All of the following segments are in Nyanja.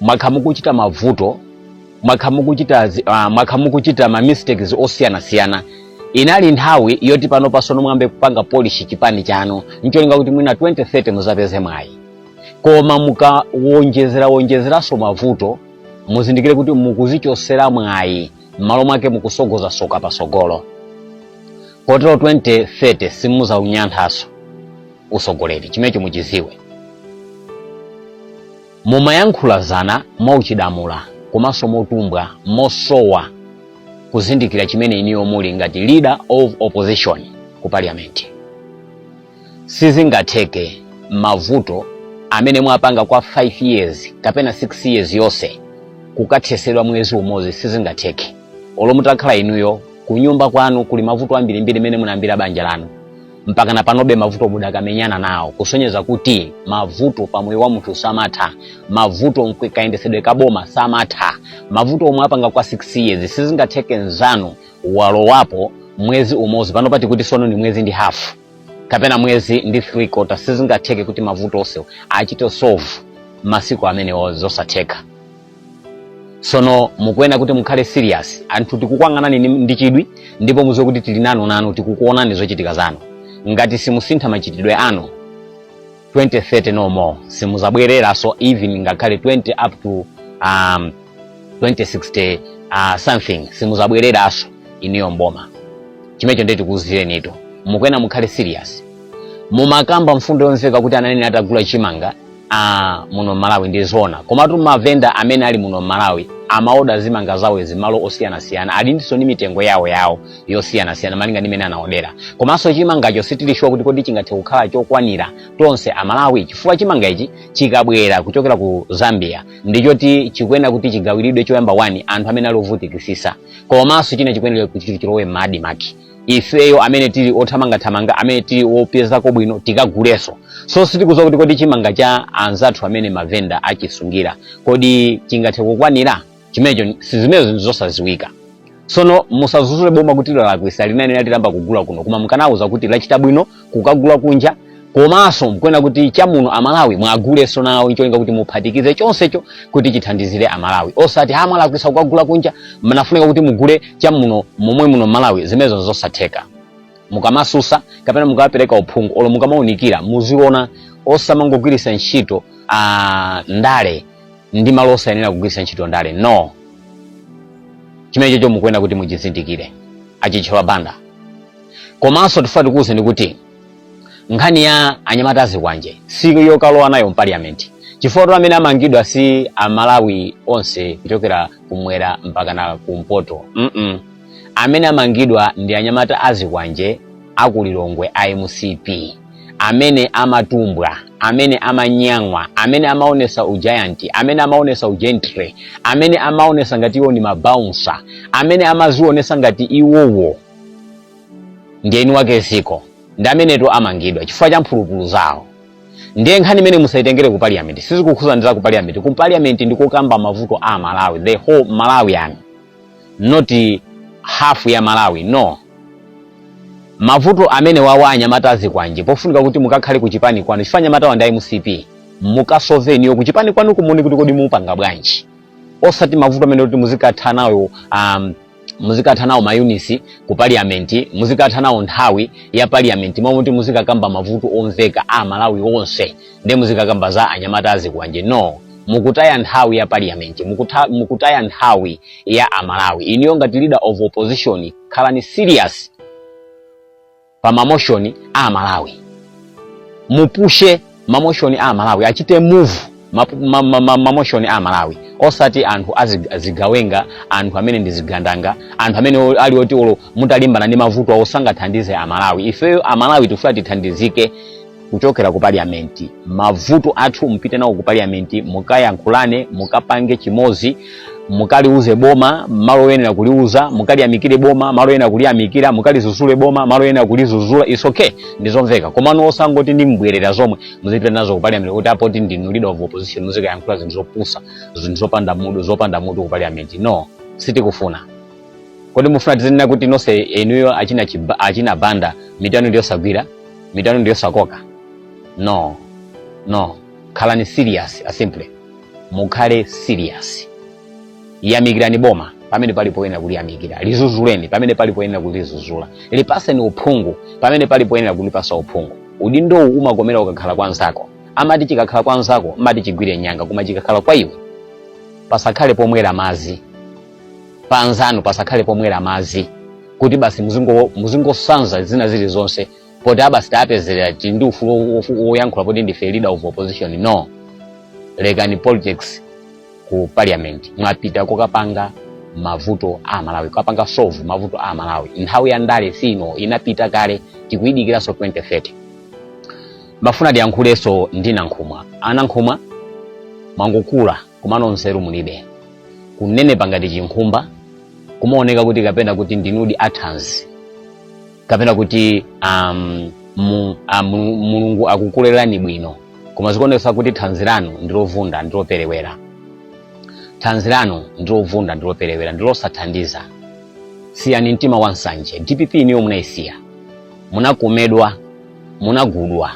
mwakhala mukuchita mavuto mwakhala mukuchita zi- ah, mwakhala mukuchita ma mistakes osiyanasiyana inali nthawi yoti pano pasono muyambe kupanga polish chipani chanu ncholinga kuti mwina 2030 muzapeze mwayi koma mukawonjezera wonjezeranso mavuto muzindikire kuti mukuzichosera mwayi m'malo mwake mukusogoza soka pasogolo kotero 2030 simuzaununkhanso usogoleri chimenecho muchiziwe Mumayankhula zinthu mwauchidamula komanso motumbwa mosowa kuzindikira chimene inuyo muli ngati leader of opposition ku parliament. Sizingatheke mavuto amene mwapanga kwa 5 years kapena 6 years yonse kukathesedwa mwezi umodzi sizingatheke. Olo mutakhala inuyo kunyumba kwanu kuli mavuto ambirimbiri mmene munayambira banja lanu. mpaka na panobe mavuto mudakamenyana nawo kusonyeza kuti mavuto pa moyo wa munthu samatha mavuto mkwi- kayendetsedwe ka boma samatha mavuto omwe mwapanga kwa 6 years sizingatheke nzanu walowapo mwezi umodzi pano titi kuti sono ni mwezi ndi hafu kapena mwezi ndi 3 kota sizingatheke kuti mavuto onse achite solve masiku amenewo zosatheka sono mukuyenera kuti mukhale serious anthu tikukuyang'anani ni- ndi chidwi ndipo muziwe kuti tili nanu nanu tikukuonani zochitika zanu ngati simusintha machitidwe anu 2030 no more simuzabwereranso even ngakhale 20 up to um, 2060 uh, something simuzabwereranso inuyo mboma chimenecho ndiye tikuuzirenitu mukuyenera mukhale serious mumakamba mfundo yomveka kuti akanayenera atagula chimanga ah, muno mmalawi ndi zona komatu mavenda amene ali muno mmalawi amaoda zimanga zawo mmalo osiyanasiyana alinso ndi mitengo yawo yawo yosiyanasiyana malinga ndi mmene anaodera komanso chimangacho sitili shuwa kuti kodi chingathe kukhala chokwanira tonse amalawi chifukwa chimanga ichi chikabwera kuchokera ku zambia ndichoti chikuyenera kuti chigawiridwe choyamba kwa anthu amene ali ovutikisisa komanso china chikuyenera kuti chilowe m'ma ADMARC ifeyo amene tili othamangathamanga amene tili opezako bwino tikaguleso so sitikuziwa kuti kodi chimanga cha anzathu amene mavenda achisungira kodi chingathe kukwanira chimenecho sizimenezo zinthu zosaziwika sono musazuzule boma kuti lalakwisa likanayenera litayamba kugula kuno koma mukanaliuza kuti lachita bwino kukagula kunja komanso mukuyenera kuti chamuno amalawi muwagulenso nawo ncholinga kuti muphatikize chonsecho kuti chithandizire amalawi osati ha mwalakwisa kukagula kunja mnafunika kuti mugule chamuno momwe muno malawi zimenezo zosatheka mukamasusa kapena mukapereka uphungu olo mukamaunikira muziona osamangogwiritsa ntchito ah, ndale m'malo osayenera kugwiritsa ntchito ndale no chimenecho chomwe mukuyenera kuti muchizindikire a Chithyola Banda komanso tifuna tikuwuzeni kuti nkhani ya anyamata azikwanje si yokalowa nayo mpaliyamenti chifukwa choti amene amangidwa si amalawi onse kuchokera kumwera mpaka na kumpoto mm -mm. amene amangidwa ndi anyamata azikwanje akulilongwe a mcp amene amatumbwa amene amanyang'wa amene amaonesa ujayanti amene amaonesa ugentre amene amaonesa ngati iwo ni mabaunsa amene amadzionesa ngati iwowo ndiye eni wake dziko ndi amenetu amangidwa chifukwa cha mphulupulu zawo ndiye nkhani imeneyi musayitengere ku parliament sizikukhudza ndi za ku parliament ku parliament ndi kokamba mavuto a amalawi the whole malawian not half ya amalawi no mavuto amenewawa anyamata azikwanje pofunika kuti mukakhale ku chipani kwanu chifukwa anyamata wa ndi a mcp mukasove inuyo ku chipani kwanu kumene kuti kodi mupanga bwanji osati mavuto amenewa kuti muzikatha nawo um, muzikatha nawo mayunisi ku parliament muzikatha nawo nthawi ya parliament mmalo moti muzikakamba mavuto omveka a amalawi onse nde muzikakamba za anyamata azikwanje no mukutaya nthawi ya parliament mukutha, mukutaya nthawi ya amalawi inuyo ngati leader of opposition khalani serious pa mamoshoni a amalawi mupushe mamoshoni a amalawi achite move mapu- ma- ma- ma- mamoshoni a amalawi osati anthu azig- azigawenga anthu amene ndi zigandanga anthu amene o- ali oti olo mutalimbana ndi mavuto awo sangathandize amalawi ifeyo amalawi tifuna tithandizike kuchokera ku parliament mavuto athu mupite nawo ku parliament mukayankhulane mukapange chimodzi mukaliuze boma malo oyenera kuliuza mukaliyamikire boma malo oyenera kuliyamikira mukalizuzule boma malo oyenera kulizuzula it's okay ndizomveka komano osangoti ndi mbwerera zomwe muzipita nazo ku parliament kuti apoti ndinu leader of opposition muzikayankhula zinthu zopusa zinthu zopanda mutu zopanda mutu ku parliament no sitikufuna kodi mufuna tizinena kuti nonse inuyo achina, chiba, achina banda mitu yanu ndiyosagwira mitu yanu ndiyosakoka no no khalani serious asimple mukhale serious yamikirani boma pamene pali poyenera kuliyamikira lizuzuleni pamene pali poyenera kulizuzula lipaseni uphungu pamene pali poyenera kulipasa uphungu udindowu umakomera ukakhala kwa nzako amati chikakhala kwa nzako umati chigwire nyanga koma chikakhala kwa iwe pasakhale pomwera madzi pa anzanu pasakhale pomwera madzi kuti basi muzingo- muzingosanza zina zilizonse poti abasi tapezerera tili ndi ufulu wo- wo- woyankhula poti ndife leader of opposition no lekani politics ku parliament mwapita kukapanga mavuto a amalawi kukapanga solve mavuto a amalawi nthawi ya ndale si ino inapita kale tikuyidikiranso 2030 timafuna tiyankhulenso ndi nankhumwa anankhumwa mwangokula komano nzeru mulibe kunenepa ngati chinkhumba kumaoneka kuti kapena kuti ndinu athanzi kapena kuti um, mu, a, mu, mulungu akukulerani bwino koma zikuonetsa kuti thanzi lanu ndilovunda ndiloperewera thanzi lanu ndilovunda ndiloperewera ndilosathandiza siyani mtima wa nsanje dpp niyo munayisiya munakomedwa munagudwa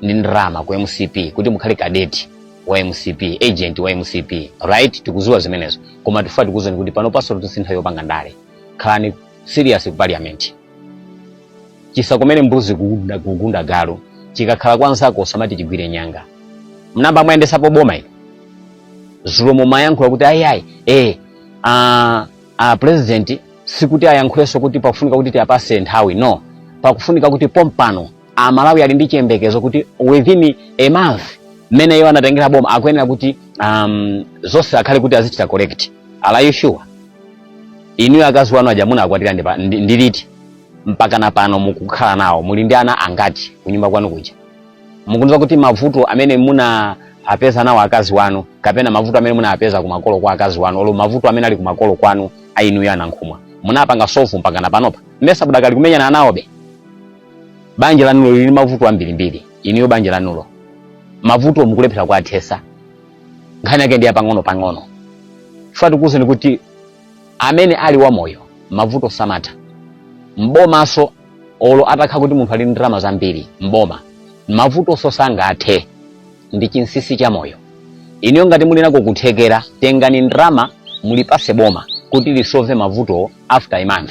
ndi ndalama ku mcp kuti mukhale kadeti wa mcp agent wa mcp right tikuziwa zimenezo koma tifuna tikuuzeni kuti panopa so si nthawi yopanga ndale khalani serious ku parliament chisakomere mbuzi kugunda, kugunda galu chikakhala kwa nzako usamati chigwire nyanga munaba mwayendesapo boma inu dzulo mumayankhula kuti ayiayi eh, a, a president sikuti ayankhulenso kuti pakufunika kuti tiyapase nthawi no pakufunika kuti pompano amalawi ali ndi chiyembekezo kuti within a month mmene iwo anatengera boma akuyenera kuti um, zonse akhale kuti azichita correct are you sure inuyo akazi wanu aja munakwatira ndi pa- ndi- ndi liti mpaka na pano mukukhala nawo muli ndi ana angati kunyumba kwanu kuja mukundiuza kuti mavuto amene munawapeza nawo akazi wanu kapena mavuto amene munapeza kumakolo kwa akazi wanu olo mavuto amene ali kumakolo kwanu inuyo a Nankhumwa munapanga solve mpaka na panopa mmesa budakali kumenyana nawobe banja lanulo lili ndi mavuto ambirimbiri inuyo banja lanulo mavuto mukulephera kuwathesa nkhani yake ndi yapang'ono-pang'ono chifukwa tikuwuzeni kuti amene ali wamoyo mavuto samatha mbomaso olo atakhala kuti munthu ali ndi ndalama zambiri mboma mavutonso sangathe ndi chinsisi cha moyo inuyo ngati muli nako kuthekera tengani ndalama mulipase boma kuti lisove mavutowo after a month